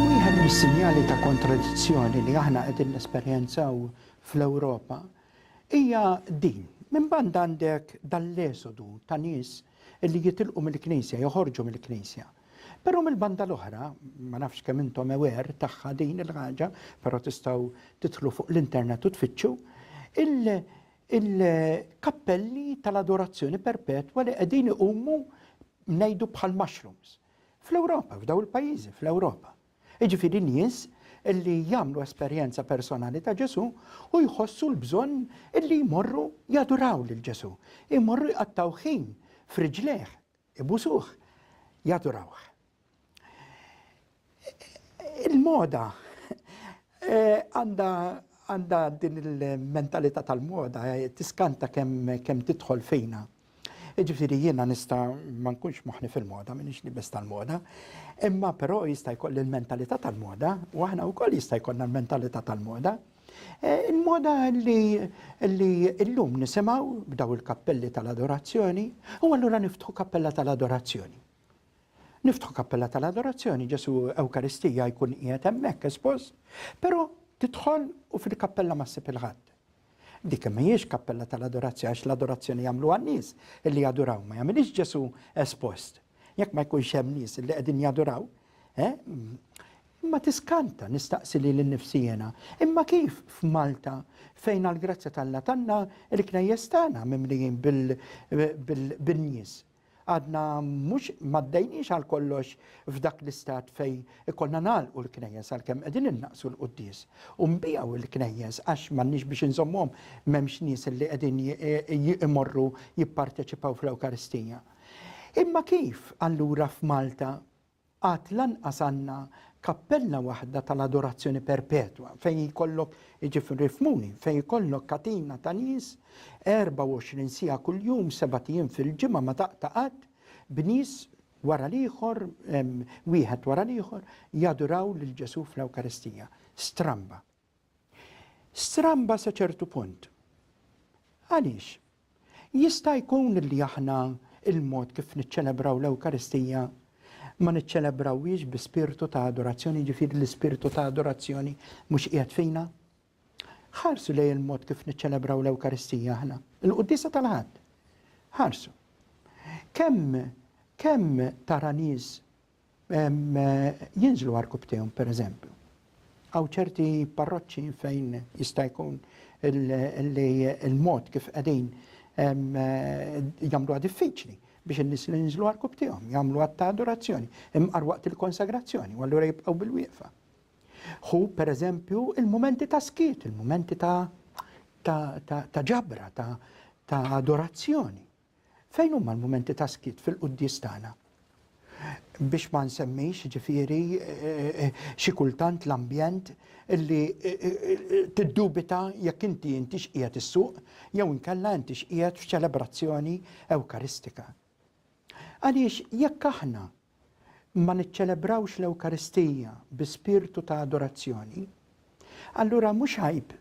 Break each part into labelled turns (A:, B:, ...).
A: Wieħed mis-sinjali ta' kontradizzjoni li aħna qegħdin nesperjenzaw fl-Ewropa hija din, minn banda għandek dan l-esodu ta' nies li jitilqu mill-Knisja, joħorġu mill-Knisja. Però mill-banda l-oħra, ma nafx kemm intom ewer tagħha din il-ħaġa, però tistgħu tidħlu fuq l-internet u tfittxu, il-kappelli tal-adorazzjoni perpetwa li qegħdin iqumu ngħidu bħal mushrooms. Fl-Ewropa, f'daw il-pajjiżi fl-Ewropa. Iġifieri nies illi jagħmlu esperjenza personali ta' Ġesu u jħossu l-bżonn illi jmorru jaduraw lil Ġesu, jmorru jqattaw ħin friġlejh Ibusuh, jadurawh. Il-moda għandha għandha din il-mentalità tal-moda eh, tiskanta kemm kem tidħol fina. Ġifiri jiena nista ma nkunx moħni fil-moda, minix nibes tal-moda, imma però jista' jkolli l-mentalità tal-moda, u aħna wkoll jista' jkollna l-mentalità tal-moda. Il-moda li illum nisimgħu b'daw il-kappelli tal-adorazzjoni, u allura niftħu kappella tal-adorazzjoni. Niftħu kappella tal-adorazzjoni, Ġesu Ewkaristija jkun qiegħed hemmhekk espost, però tidħol u fil-kappella ma ssib il-ħadd. Dik mhijiex kappella tal-adorazzjoni għax l-adorazzjoni jagħmlu għan-nies illi jadoraw ma jagħmilix Ġesu espost. Jekk ma jkunx hemm nies li qegħdin jaduraw, eh, imma tiskanta nistaqsi li l-nifsi jena. Imma kif f'Malta fejn għal-grazzja tal-la tanna il-knejjes tagħna mimlijin bil-nies. Għadna mhux maddejniex għal kollox f'dak l-istat fej ikollna nagħlqu l-knejjes għalkemm qegħdin innaqsu l-quddies. U nbijaw il-knejjes għax m'għandniex biex inżommhom m'hemmx nies li qegħdin imorru jipparteċipaw fl-Ewkaristija. Imma kif allura f'Malta għad lanqas għandna kappella waħda tal-adorazzjoni perpetwa fejn jkollok, jiġifieri ifhmuni, fejn jkollok katina ta' nies 24 siegħa kuljum sebat ijiem fil-ġimgħa ma taqta' qatt b'nies wara l-ieħor, wieħed wara l-ieħor, jaduraw lil Ġesù fl-Ewkaristija. Stramba. Stramba sa ċertu punt. Għaliex? Jista' jkun li aħna l-mod kif niċċelebraw l-Ewkaristija ma niċċelebrawhiex bi spirtu ta' adorazzjoni, jiġifieri l-ispirtu ta' adorazzjoni mhux qiegħed fina? Ħarsu lejn il-mod kif niċċelebraw l-Ewkaristija aħna, il-Quddiesa tal-Ħadd. Ħarsu. Kemm kemm tara nies jinżlu għarkubtejhom pereżempju. Għaw ċerti parroċċi fejn jista' jkun li l-mod kif qegħdin jagħmluha diffiċli biex in-nies li jinżlu għarkubtejhom jagħmlu għatta adorazzjoni imqar waqt il-konsagrazzjoni u allura jibqgħu bil-wieqfa. Hu pereżempju il-mumenti ta' skiet, il-mumenti ta' ġabra, ta' adorazzjoni. Fejn huma l-mumenti ta' skiet fil-quddies tagħna? Biex ma nsemmix ġifieri xi kultant l-ambjent li tiddubita jekk inti intix qiegħed issuq jew inkella intix qiegħed f'ċelebrazzjoni ewkaristika. Għaliex jekk aħna ma niċċelebrawx l-Ewkaristija bi spirtu ta' adorazzjoni, allura mhux għajb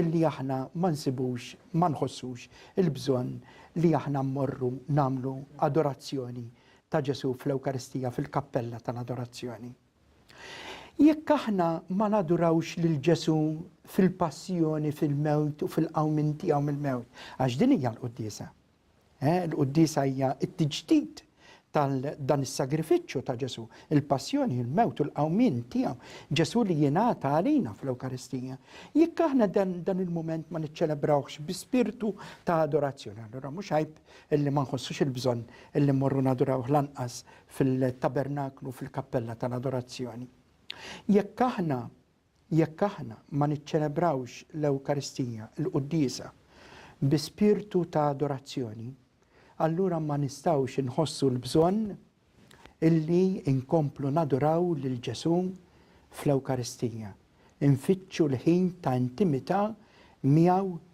A: li aħna ma nsibux, ma nħossux il-bżonn li aħna mmorru nagħmlu adorazzjoni ta' Ġesù fl-Ewkaristija fil-kappella tal-adorazzjoni. Jekk aħna ma nadurawx lil Ġesù fil-passjoni, fil-mewt u fil-qawmien tiegħu mill-mewt, għax din hija l-quddiesa. Il-quddiesa hija t-tiġdid ta' dan is-sagrifiċċju ta' Ġesù, il-passjoni, il-mewt u l-qawmien tiegħu, Ġesù li jingħata għalina fl-Ewkaristija. Jekk aħna dan il-mument ma niċċelebrawhx bi spirtu ta' adorazzjoni, allura mhux għajb illi ma nħossux il-bżonn illi mmorru nadurawh lanqas fil-tabernaklu, fil-kappella tal-adorazzjoni. Jekk aħna Jekk aħna ma niċċelebrawx l-Ewkaristija, il-quddiesa, bi spirtu ta' adorazzjoni, allura ma nistgħux inħossu l-bżonn illi nkomplu naduraw lil Ġesù fl-Ewkaristija, infittxu l-ħin ta' intimità miegħu